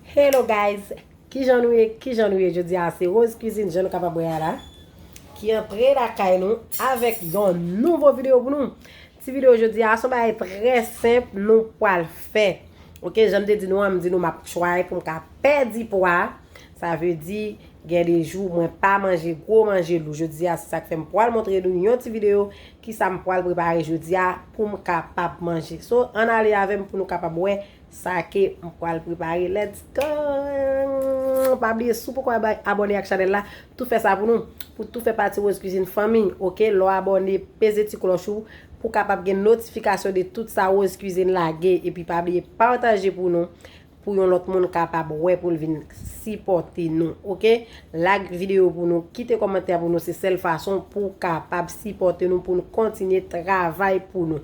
Hello guys kijan nou ye kijan nou ye jodi a se rose cuisine jan nou kapab wè a la ki antre lakay nou avèk yon nouvo video pou nou ti video jodi a son bagay trè senp nou pwal fè ok jan m te di nou an m di nou map try pou m ka pèdi pwa sa vle di gen de jou mwen pa manje gwo manje lou jodi a se sak fè m pwal montre nou yon ti video kisa m pwal prepare jodi a pou m kapab manje so an ale avèm pou nou kapab wè Sa ke m pwal prepare let's go pa bliye si w poko abone ak chanel la tou fè sa pou nou pou tou fè pati rose cuisine fanmi ok lè w abone peze ti kloch ou pou kapab gen notifikasyon de tout sa rose cuisine lage epi pa bliye pataje pou nou pou yon lòt moun kapab wè pou l vin sipòte nou ok lag video pou nou kite kòmantè pou nou se sèl fason pou kapab sipòte nou pou nou kontinye travay pou nou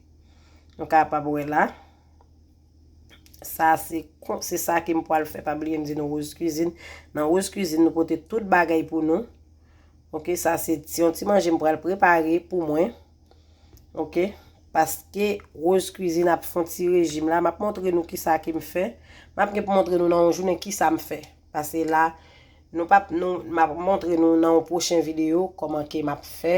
Nou kapab wè la. Sa se kon, se sa ke m pwal fè. Pa bliye m di nou Rose Cuisine. Nan Rose Cuisine nou pote tout bagay pou nou. Ok, sa se ti, yon ti manje m pwal prepare pou mwen. Ok, paske Rose Cuisine ap fon ti rejim la. M ap montre nou ki sa ke m fè. M ap gen pou montre nou nan yon jounen ki sa m fè. Pase la, nou pap, nou, m ap montre nou nan yon pwochen video, kòman ke m ap fè.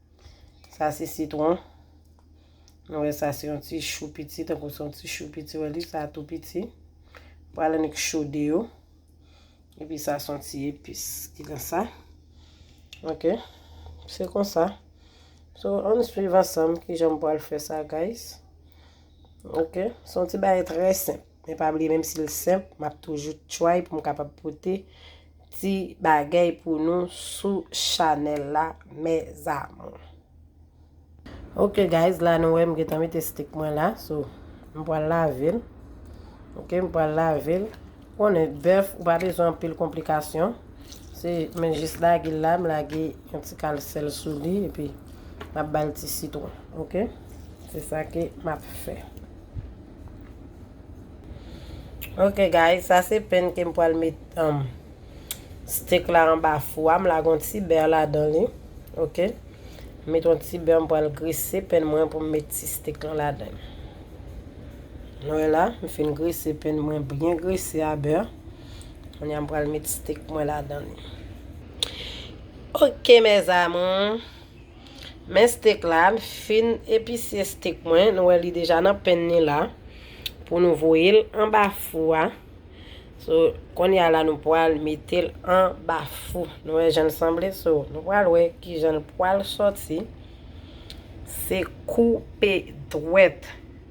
Sa se sitwon. Nou wè sa se yon ti chou piti. Tan kou se yon ti chou piti wè li. Sa a tou piti. Pou al annik chode yo. E pi sa son ti epis. Ki nan sa. Ok. Se kon sa. So, an swiv ansanm ki jan m pou al fè sa guys. Ok. Son ti baye trè senp. Men pa bliye menm sil senp map toujou try poum kapab pote ti bagay pou nou sou chanel la mes amours. Ok guys la nou wè m gentan mete steak mwen la so m pral lavel ok m pral lavel ou konnen bèf ou pa bezwen anpil konplikasyon se men jis lagel la m lage yon ti kal sèl sou li epi map bal ti sitron ok se sa ke map fè. Ok guys sa se pen ke m pral met um, steak la anba fou a, m lage yon ti bè ladan li, ok, m met yon ti bè m pral grese pen mwen pou m met ti steak lan ladan l. Nou wè la, m fin grese pen mwen byen grese a bè, kounye a m pral met steak mwen ladan li. Ok mes amours. Men steak la, m fin episye steak mwen, nou wè li deja nan pen ni la, pou nou voye l anba fou a, so, konye a la nou pwal mete l anba fou, nou wè jan l sanble, so, nou pwal wè ki jan l pwal sòti, se koupe dwèt.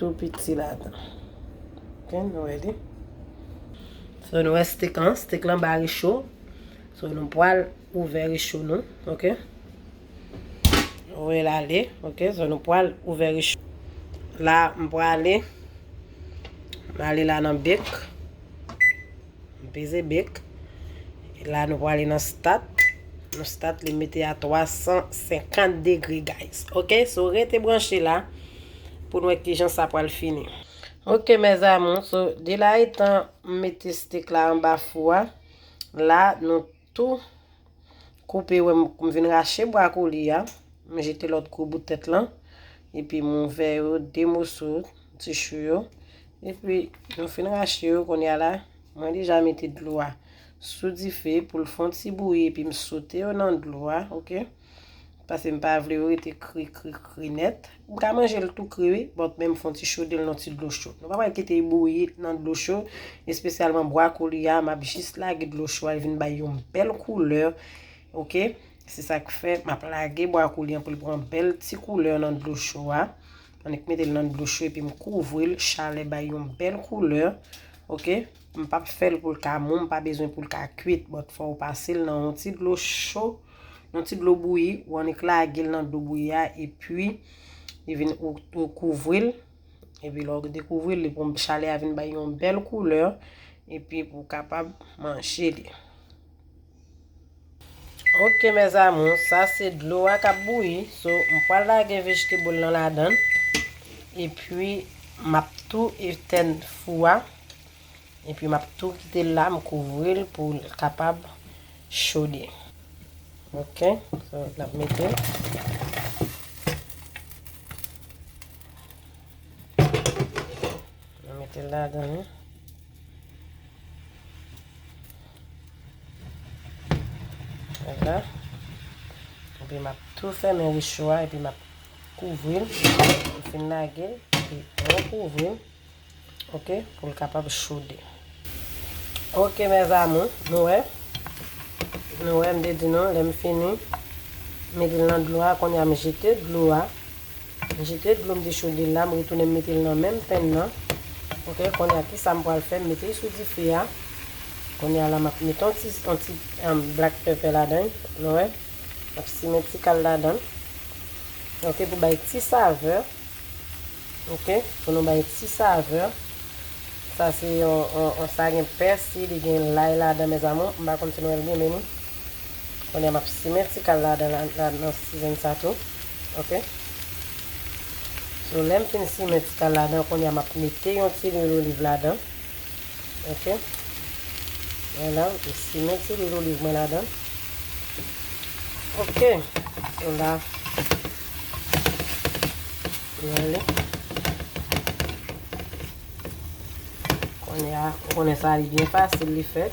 Tou piti ladan. Ok nou wè li. So nou wè stik lan. Stik lan ba recho. So nou pwal ouvè recho nou. Ok. Ouvè la li. Ok. So nou pwal ouvè recho. La m pwale. M ale la nan bik. M peze bek. La nou pwale nan stat. Nou stat li mete a 350 degre guys. Ok so rete branche la pou nou wè kijan sa pwale fini. Ok mes amour so de la etan m mete steak la anba fou a la nou. Tou. Koupe wè m kou m vin rache bwa kou li a. M jete lòt kou bout tèt lan. Epi m ouvè yo de moso ti chou yo. Epi nou fin rache yo kounye a la. Mwen deja mete dlo a sou dife pou l fon ti bouyi epi m sote yo nan dlo a. Ok. Pase m pa vle yo rete kri kri kri nèt. M ka manje l tou kri wi, bòt men m fon ti chode l nan ti dlo cho. Nou pa pral kite l bouyi nan dlo cho, espesyalman bwakoli a, m ap jis lage dlo cho a, l vin bay yon bèl koulè, ok. Se sa k fè m ap lage bwakoli an pou l pran bèl ti koulè nan dlo cho a. Annik mete l nan dlo cho epi m kouvri l, chalè bay yon bèl koulè, ok. M pap fèl pou l ka mou, m pa bezwen pou l ka kwit, but fòw pase l nan yon ti dlo cho, yon ti dlo bouyi, ou annik lage l nan dlo bouyi a epi li vin ou kouvri l, epi lè ou dekouvri l li pou chalè a vin bay yon bèl koulè epi pou kapab manje li. Ok mes amours sa se dlo a kap bouyi so m pwal lage vegetable lan ladann epi map tou etèn fou a epi map tou kitel la m kouvril poul kapab chode ok so nap metel nan metel ladann. Epi m ap tou fèmen rechou a, epi m ap kouvri l. M fin lage l, epi rekouvri l, ok, pou l kapab chode. Ok, mèzamou, nou wè, nou wè, m te di nou, lè m fini, mete l nan dlo a, kounye a m jete dlo a. M jete dlo m te chode l la, m retounen m mete l nan menm pen nan ok kounye a kisa m pral fè m mete l sou dife a kounye a la m ap mete yon ti yon ti black pepper ladan l nou wè m ap simen ti kal ladan l ok pou bay ti savè ok pou nou bay ti savè sa se yon yon sa gen pèsi li gen lay ladan mèzamou m pa konn si nou wè l gen men ni. Kounye a m ap simen ti kal ladan nan season sa tou. Ok. So lè m fin simen ti kal ladan kounye a m ap mete yon ti lwil oliv ladan. Ok. Vwala m fin simen ti lwil oliv mwen ladan. Ok. So la. Mwen li. Kounye a ou konnen sa li byen fasil li fèt.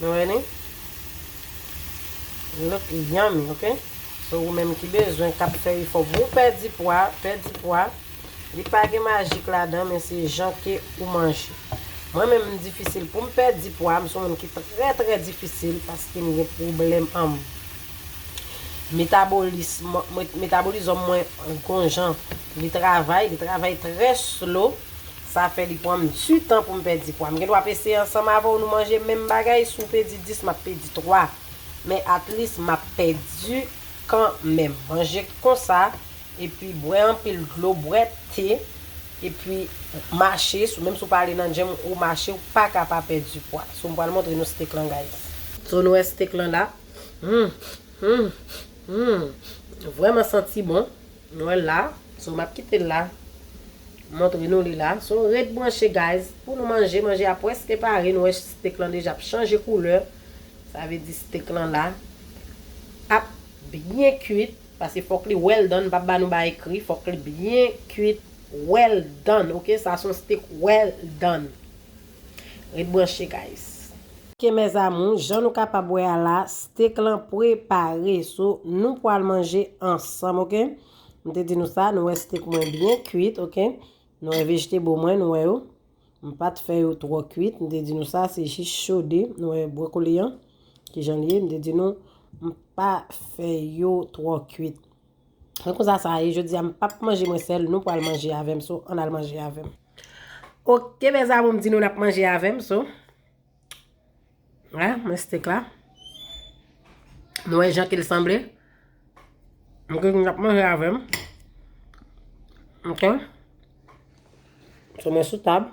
Nou wè li? Li look yummy ok. So ou menm ki bezwen kap fè efò pou ou pèdi pwa, pèdi pwa. Li pa gen majik ladan men se jan ke ou manje. Mwen menm m difisil poum pèdi pwa, m son moun ki trè trè difisil paske m gen pwoblèm anm metabolism, metabolizòm mwen gon jan li travay, li travay trè slow. Sa fè li pranm tu tan poum pèdi pwa. M gen dwa ap eseye ansanm avèw nou manje menm bagay si w pedi 10 map pedi 3 men at least map pèdi kan menm. Manje konsa epi bwè anpil dlo bwè te epi mache sou menm si w pa ale nan gym ou mache ou paka pa pèdi pwa. So m pral montre nou steak lan guys. So nou wè steak lan la. Humm humm humm. Vrèman santi bon. Nou wèl la so map kitel la montre nou li la so ret branche guys pou nou manje manje a preske pare nou wè steak lan deja ap chanje koulè sa vle di steak lan la ap byen kuit paske fok li well done m pap ba nou ba ekri fok li byen kuit well done ok sa son steak well done. Ret branche guys. Ok mes amours jan nou kapab wè a la steak lan pre pa re so nou pwal manje ansanm ok m te di nou sa nou wè steak mwen byen kuit ok nou wè vegetable mwen nou wè yo m pat fè yo twò kuit m te di nou sa se jis chode nou wè brocoli an kijan l ye m te di nou m pa fè yo twò kuit. Mwen konsa sa ye jodi a m pap manje mwen sèl nou pral manje avèm so ann al manje avèm. Ok mes amour m di nou nap manje avèm so. Wè mwen steak la. Nou wè jan ke l sanble. Mwen di nou nap manje avèm. Ok. So mwen sou tab.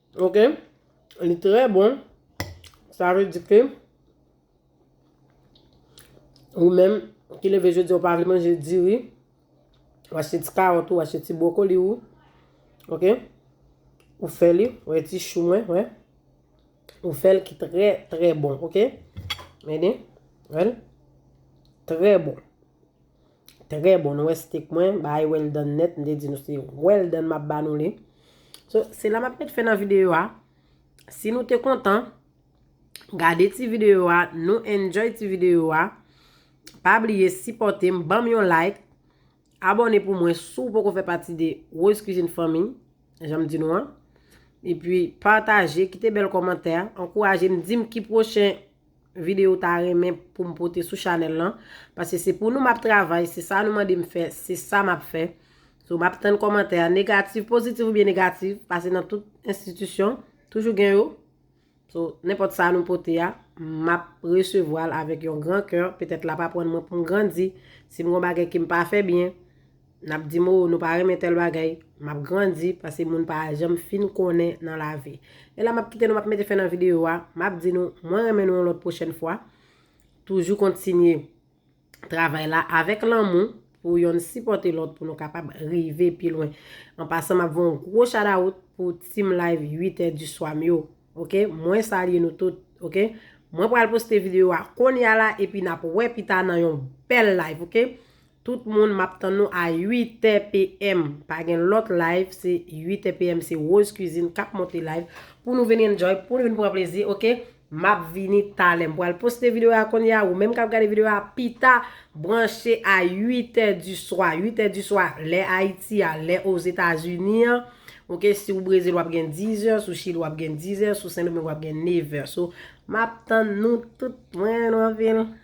Ok Li trè bon Sa vle di ke Ou menm Ki leve jodi ou pa vle manje diri Ou achte ti kawòt ou Ou achte ti bwokoli ou Ok Ou fè li Ou wè ti chou mwen wè Ou fè l ki trè trè bon Ok Meni Wè l Trè bon Trè bon, nou wè steak mwen bay well done net, m te di nou se well done map ba nou li. So, se la map met fè nan video a. Si nou te kontan, gade ti video a, nou enjoy ti video a. Pa bliye sipote m, banm yon like. Abone pou mwen si w poko fè pati de Rose Cuisine Family, jan m di nou an. E pi pataje, kite bel komantè, ankouraje m, di m ki pwochen video ou ta renmen pou m pote sou chanel lan. Pase se pou nou map travay, se sa nou mande m fè, se sa map fè. So map tann komantè a negatif, pozitif ou byen negatif. Pase nan tout enstitisyon, toujou gen yo. So, nenpòt sa nou pote a, map resevwa l avèk yon gran kè. Petèt la pa pwann mwen pou m grandi. Si m gon bagay ke m pa fè byen. Nap dim oo nou pa renmen tèl bagay, map grandi pase moun pa janm fin konnen nan lavi. E la map kite nou map mete fen nan video a, map di nou mwen renmen nou yon lòt pwochèn fwa, toujou kontinye travay la avèk lanmou pou yonn sipòte lòt pou nou kapab rive pi lwen. An pasan map voye yon gwo shadawout pou team live 8 è di swa m yo ok mwen salye nou tout ok mwen pral poste video a konnya la epi nap wè pita nan yon bèl live ok Tout moun map tann nou a 8 tè PM pa gen lòt live se 8 tè PM se Rose cuisine kap monte live pou nou vin enjoy pou nou vin pran plezi ok map vini talè m pral poste video a kounye a ou menm kap gade video a pita branche a 8 tè di swa 8 tè di swa lè Ayiti a lè Ozetazini an ok si ou Brezil wap gen 10 zè sou Chili wap gen 10 zè sou Sendomeng wap gen 9 zè so map tann nou tout mwen nou anpil.